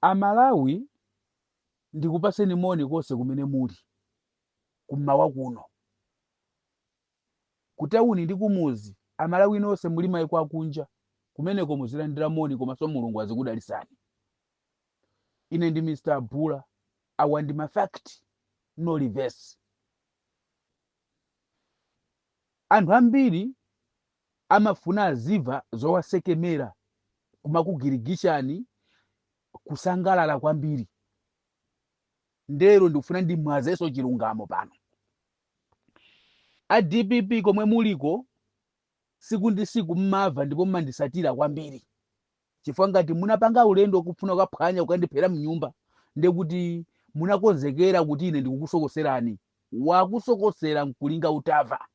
A Malawi ndikupaseni moni konse kumene muli, kummawa kuno, ku tawuni ndi kumuzi, a Malawi nonse muli maiko akunja, kumeneko muzilandira moni komanso Mulungu azikudalisani. Ine ndi Mr. Abula, awa ndi ma fact, no reverse. Anthu ambiri amafuna azimva zowasekemera kumakugirigishani kusangalala kwambiri ndero ndikufuna ndimwazeso chilungamo pano a dpp komwe muliko siku ndi siku mmamva ndipo mmandisatira kwambiri chifukwa ngati munapanga ulendo kufuna kukaphwanya kukandiphera mnyumba ndekuti munakonzekera kuti ine ndikukusokoserani wakusokosera nkulinga utamva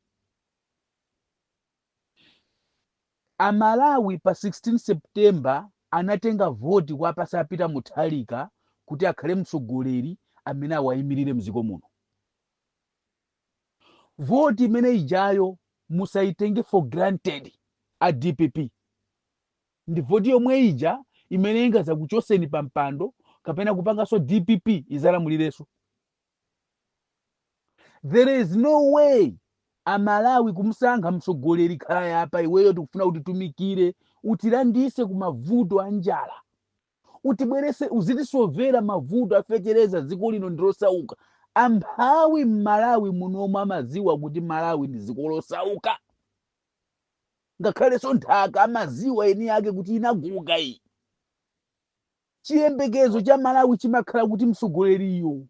A Malawi pa 16 September anatenga voti kuwapasa a Peter Mutharika kuti akhale mtsogoleri amene awayimilire mdziko muno. Voti imene ijayo musayitenge for granted a dpp. Ndi voti yomwe ija imene ingazakuchoseni pa mpando kapena kupanganso dpp izalamulirenso. there is no way amalawi kumsankha mtsogoleri khala apa iweyo tikufuna utitumikire utilandise ku mavuto a njala utibwerese uzitisovera mavuto a fetereza dziko lino ndilosauka amphawi mmalawi munomwe amaziwa kuti malawi ndi dziko losauka ngakhalenso nthaka amaziwa eni yake kuti inaguga iyi chiyembekezo cha amalawi chimakhala kuti mtsogoleriyo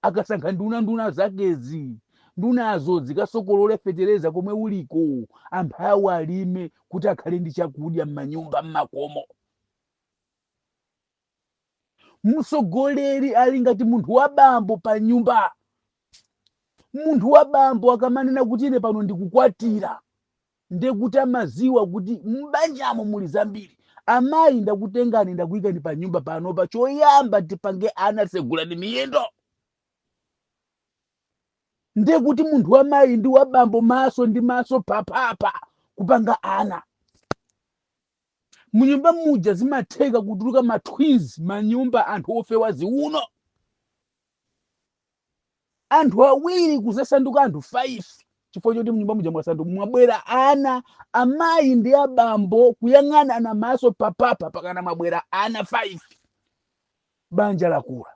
akasankha nduna nduna zakezi ndunazo zikasokolole fetereza komwe uliko amphawi alime kuti akhale ndi chakudya m'manyumba m'makomo mtsogoleri ali ngati munthu wa bambo pa nyumba munthu wa bambo akamanena kuti ine pano ndikukwatira ndekuti amaziwa kuti mbanjamo muli zambiri amayi ndakutengani ndakuyikani pa nyumba panopa choyamba tipange ana segulani miyendo ndekuti munthu wa mayi ndi wa bambo maso ndi maso papapa kupanga ana munyumba muja zimatheka kutuluka ma twins manyumba anthu ofewa ziuno anthu awiri kuzasanduka anthu 5 chifukwa choti mnyumba muja mwasanduka mwabwera ana amayi ndi abambo kuyang'anana maso papapa pakana mwabwera ana 5 banja lakula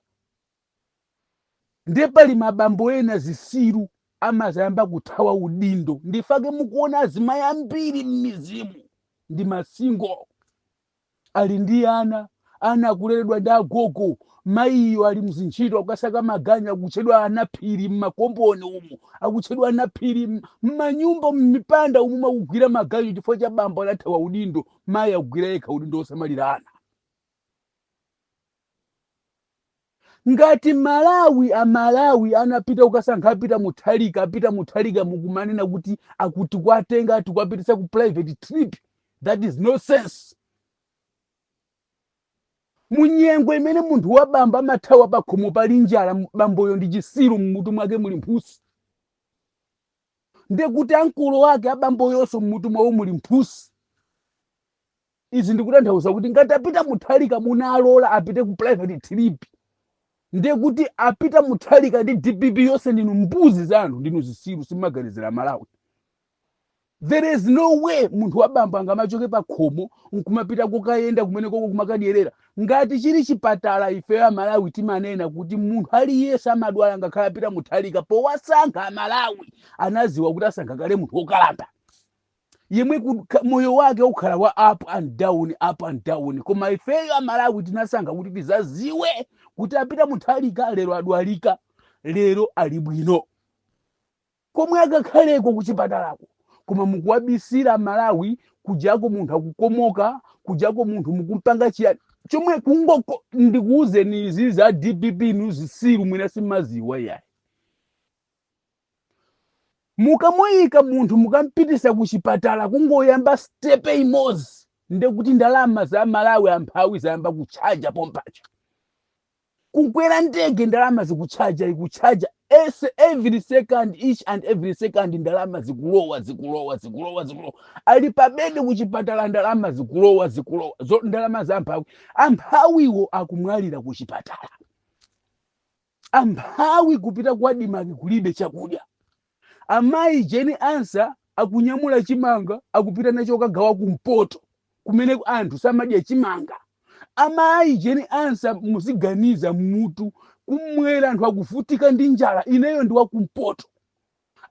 ndiye pali mabambo ena zisiru amazayamba kuthawa udindo ndifake mukuona azimayi ambiri m'mizimu ndi masingo ali ndi ana ana akuleredwa ndi agogo mayiyo ali mzintchito akukasaka maganyu akutchedwa anaphiri mmakomboni umu akutchedwa anaphiri m- mmanyumba mmipanda umu akugwira maganyu chifukwa cha bambo anathawa udindo mayi akugwira yekha udindo wosamalira ana Ngati Malawi a Malawi anapita kukasankha a Peter Mutharika a Peter Mutharika mukumanena kuti akuti kwatenga ati kwapitisa ku private trip that is nonsense. Munyengo imene munthu wabambo amathawa pakhomo pali njala bamboyo ndi chisiru mmutu mwake muli mphusi. Ndekuti ankolo ake abamboyonso mmutu mwawo muli mphusi. izi ndikutanthauza kuti ngati a peter mutharika munalola apite ku private trip ndiye kuti a peter mutharika ndi dpp yonse ndinu mbuzi zanu ndinu zisiru simumaganizira malawi there is no way munthu wabambo angamachoke pa khomo nkumapita kukayenda kumene koko kumakadyerera ngati chili chipatala ifeyo amalawi timanena kuti munthu aliyense amadwala ngakhale a peter mutharika powasankha amalawi anaziwa kuti asankha kale munthu wokalamba yemwe ku- ka- moyo wake ukhala wa up and down up and down koma ifeyo amalawi tinasankha kuti tizaziwe kuti a peter mutharika lero adwalika lero ali bwino komwe akakhaleko kuchipatalako koma mukuwabisira malawi kujako munthu akukomoka kujako munthu mukumpanga chiyani chomwe kungoko ndikuwuzeni izi a dpp nu zisiru mwina simaziwa yayi mukamuika munthu mukampitisa ku chipatala kungoyamba stepe imozi ndekuti ndalama za malawi amphawi zayamba kutchaja pompaja kukwera ndege ndalama zikutchaja ikutchaja es- every second each and every second ndalama zikulowa zikulowa zikulowa zikulowa ali pabedi kuchipatala ndalama zikulowa zikulowa zo ndalama za amphawi amphawiwo akumwalira kuchipatala Amphawi kupita ku Admarc kulibe chakudya. Amayi Jane Ansah akunyamula chimanga akupita nacho kukagawa kumpoto kumene anthu samadya chimanga. Amayi Jane Ansah muziganiza m'mutu. Kummwera anthu akuvutika ndi njala. Ineyo ndi wakumpoto.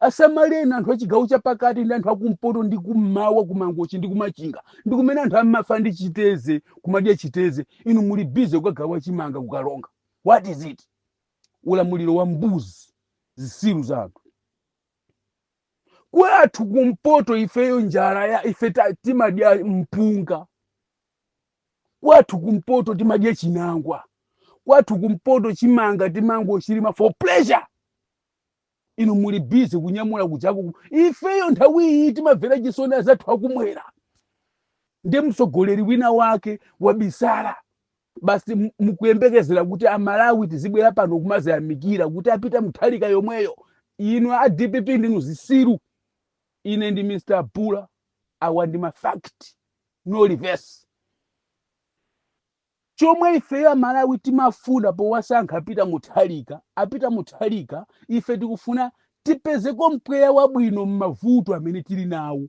asamalireni anthu achigawo chapakati ndi anthu akumpoto ndi kummawa kumangochi ndi kumachinga ndi kumene anthu amafa ndi chiteze kumadya chiteze inu muli bize kukagawa chimanga kukaronga what is it ulamuliro wa mbuzi zisiru za anthu kwathu kumpoto ifeyo njala yayi ife ta- timadya mpunga kwathu kumpoto timadya chinangwa kwathu kumpoto chimanga timangochilima for pleasure Inu muli busy kunyamula kujaku ifeyo nthawi iyi timamvera chisoni azathu akumwera ndi mtsogoleri wina wake wabisala basi mukuyembekezera kuti amalawi tizibwera pano kumaziyamikira kuti a Peter Muthalika yomweyo inu a dpp ndinu zisiru ine ndi mr bula awa ndi ma fact no reverse Chomwe ifeyo amalawi timafuna powasankha Peter Muthalika a Peter Muthalika ife tikufuna tipezeko mpweya wabwino mmavuto amene tili nawo.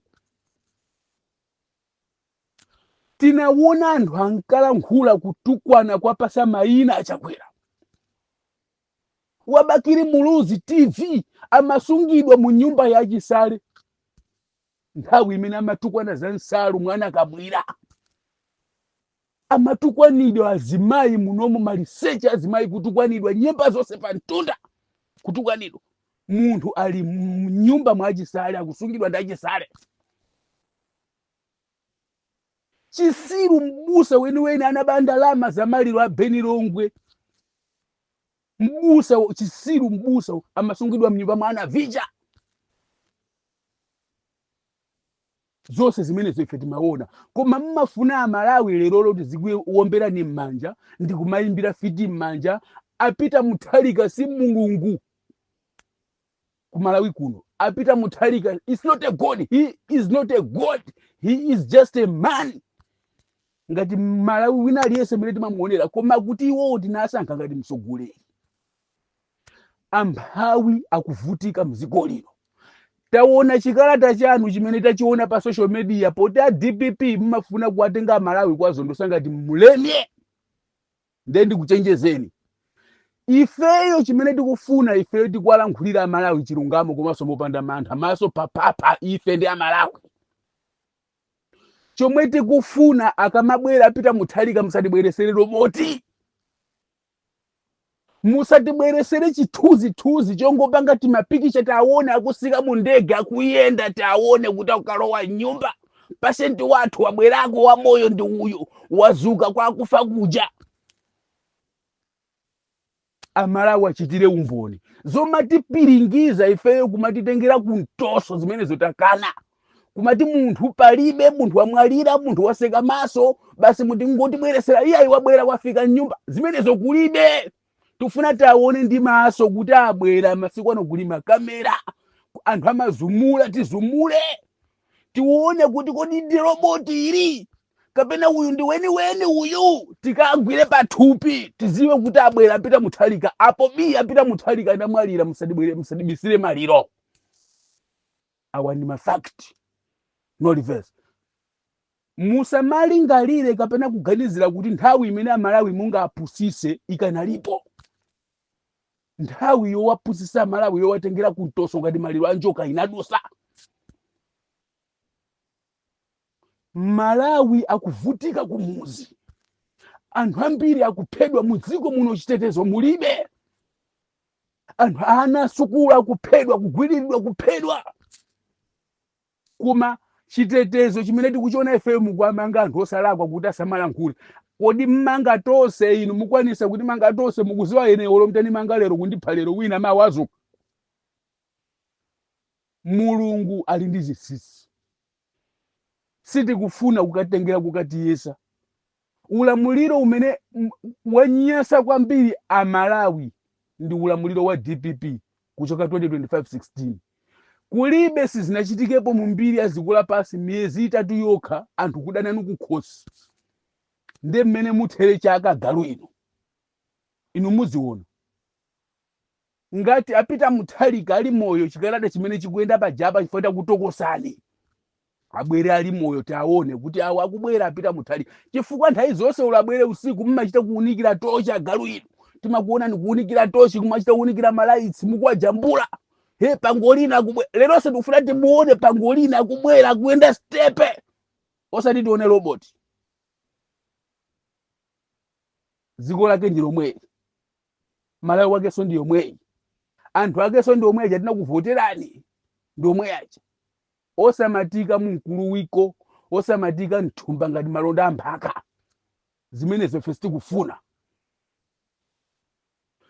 Tinawona anthu ankalankhula kutukwana kuwapatsa mayina a Chakwera. Wa Bakili Muluzi TV amasungidwa mu nyumba ya Chisale nthawi imene amatukwana za msalu mwana akamwile. amatukwanidwa azimayi munomu maliseche azimayi kutukwanidwa nyemba zonse pa mtunda kutukwanidwa munthu ali mnyumba mwa achisale akusungidwa ndi achisale chisiru mbusa weniweni anaba ndalama za maliro a beni longwe mbusa wo- chisiru mbusa wo, amasungidwa mnyumba mwa a Navicha zonse zimenezo ife timaona koma mmafuna amalawi lero tizikuwomberani m'manja ndi kumayimbira fiti m'manja a Peter Muthalika si mulungu ku malawi kuno a Peter Muthalika is not a god he is not a god he is just a man ngati mmalawi wina aliyense mene timamuonera koma kuti iwowo tinasankha ngati mtsogoleri amphawi akuvutika mdziko lino taona chikalata chanu chimene tachiona pa social media poti a dpp mmafuna kuwatenga amalawi kuwazondotsa ngati mleme nde ndikuchenjezeni ifeyo chimene tikufuna ifeyo tikuwalankhulira amalawi chilungamo komanso mopanda mantha maso papapa ife ndi amalawi chomwe tikufuna akamabwera a Peter Muthalika musatibweresere roboti musatibweresere chithunzithunzi chongopanga timapikicha tiwaone akutsika mu ndege akuyenda tiwaone kuti akukalowa mnyumba president wathu wabwerako wamoyo ndi uyu wazuka kwa akufa kuja amalawi achitire umboni zomatipiringiza ifeyo kumatitengera kumtoso zimenezo takana kumati munthu palibe munthu wamwalira munthu watseka maso basi mutingotibweresera iye wabwera wafika mnyumba zimenezo kulibe tifuna tiaone ndi maso kuti abwera masiku ano kuli makamera anthu amazuma tizume tione kuti kodi ndi roboti ili kapena uyu ndi weniweni uyu tikagwire pathupi tiziwe kuti abwera a Peter Mutharika apo bi a Peter Mutharika ndi omwalira musadibwere musadibisire maliro awa ndi ma fact no reverse musamalingalire kapena kuganizira kuti nthawi imene amalawi mungawapusise ikanalipo nthawi yowapusisa amalawi yowatengera kumtoso ngati maliro a njoka inadusa Malawi akuvutika kumuzi anthu ambiri akuphedwa mu dziko muno chitetezo mulibe anthu ana asukulu akuphedwa kugwiriridwa kuphedwa koma chitetezo chimene tikuchiona ifeyo mukuwamanga anthu osalakwa kuti asamalankhule kodi mmanga tonse inu mukwanisa kutimanga tonse mukuziwa ine olo mutandimanga lero kundipha lero wina mawa azuka Mulungu ali ndi chinsinsi. Sitikufuna kutitengera kokatiyesa. Ulamuliro umene wanyasa kwambiri a Malawi ndi ulamuliro wa dpp kuchoka 2025 16. Kulibe sizinachitikepo mu mbiri ya dziko lapansi miyezi itatu yokha anthu kudana nanu kukhosi. Nde mmene muthere chaka galu inu. Inu muziona. Ngati a Peter Mutharika ali moyo chikalata chimene chikuyenda pajapa chifukwa takutokosani. Abwere ali moyo tiawone kuti awo akubwera a Peter Mutharika. Chifukwa nthawi zonse olo abwere usiku mumachita kuunikira tochi agalu inu. Timakuonani kuunikira tochi kumachita kuunikira malaitsi mukuwajambula. He pangolina akubwera. Leronso tikufuna timuone pangolina akubwera akuyenda stepe. Osati tione robot. Dziko lake ndi lomweli. malawi wakenso ndi yomweyi anthu akenso ndi omwe aja anakuvoterani ndi omwe aja osamatika mumkuluwiko osamatika mthumba ngati malonda amphaka zimenezo ife sitikufuna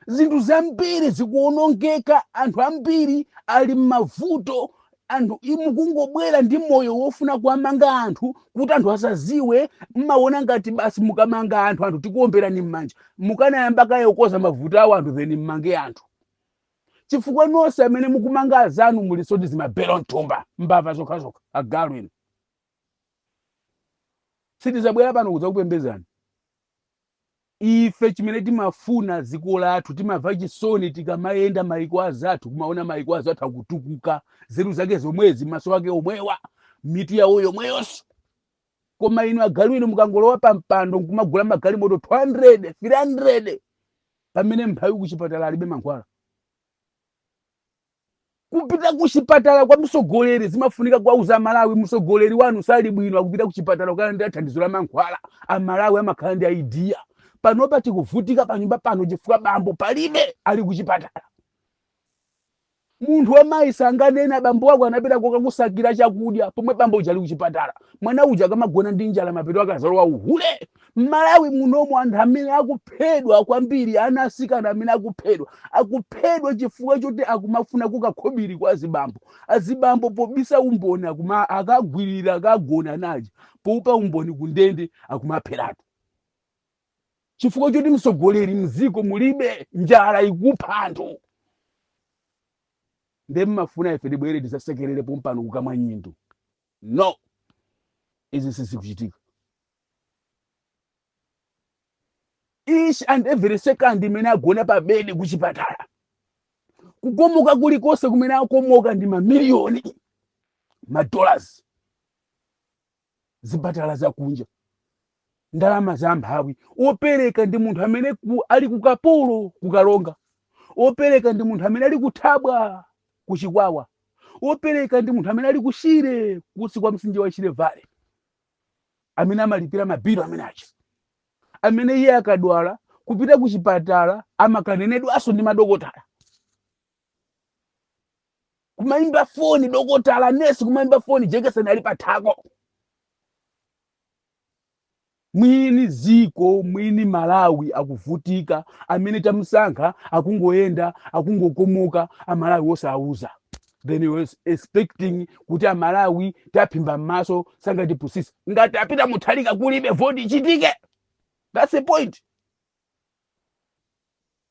zinthu zambiri zikuonongeka anthu ambiri ali m'mavuto anthu inu mukungobwera ndi moyo wofuna kuwamanga anthu kuti anthu asaziwe mmaona ngati basi mukamanga anthu anthu tikuomberani mmanja mukanayamba kaye kukoza mavuto awo anthu then mmange anthu chifukwa nonse amene mukumanga azanu mulinso ndi zimabero mthumba mbava zokhazokha agalu inu sitizabwera pano kudzakupembezani Ife chimene timafuna dziko lathu, timamva chisoni tikamayenda maiko anzathu, kumaona maiko anzathu akutukuka, nzeru zake zomwezi, maso ake omwewa, mitu yawo yomweyonso. Koma inu agalu inu mukangolowa pa mpando nkumagula magalimoto 200, 300, pamene mphawi kuchipatala alibe mankhwala. Kupita kuchipatala kwa mtsogoleri zimafunika kuwauza amalawi mtsogoleri wanu sali bwino akupita kuchipatala kukalandira thandizo la mankhwala amalawi amakhala ndi idea panopa tikuvutika panyumba pano chifukwa bambo palibe ali kuchipatala munthu wamayi sanganene bambo wako anapita kokakusakira chakudya pomwe bambo uja ali kuchipatala mwana uja akamagona ndi njala mapeto akazalowa uhule mmalawi muno anthu amene akuphedwa kwambiri ana asikana amene akuphedwa akuphedwa chifukwa choti akumafuna kakhobiri kwa azibambo azibambo pobisa umboni akuma akagwirira akagona naye poopa umboni kundende akumapheratu chifukwa choti mtsogoleri mziko mulibe njala ikupha anthu nde mmafuna ife tibwere tizasekerere pompano kukamwa nyindu No! Izi sizikuchitika. Each and every second imene agona pa bedi kuchipatala, kukomoka kulikonse kumene akomoka ndi mamiliyoni a madollars, zipatala zakunja ndalama za mphawi opereka ndi munthu amene ku, ali ku Kaporo ku Karonga opereka ndi munthu amene ali ku Thabwa ku Chikwawa opereka ndi munthu amene ali ku Shire kunsi kwa mtsinje wa Shire Valley amene amalipira mabilu amene acha amene iye akadwala kupita ku chipatala amakanenedwanso ndi madokotala kumayimba foni dokotala nesi kumayimba foni jekeseni ali pathako Mwini dziko mwini Malawi akuvutika amene tamusankha akungoyenda akungokomoka amalawi osawauza then he was expecting kuti amalawi taphimba m'maso sangatipusise ngati apita Mutharika kulibe voti ichitike that's the point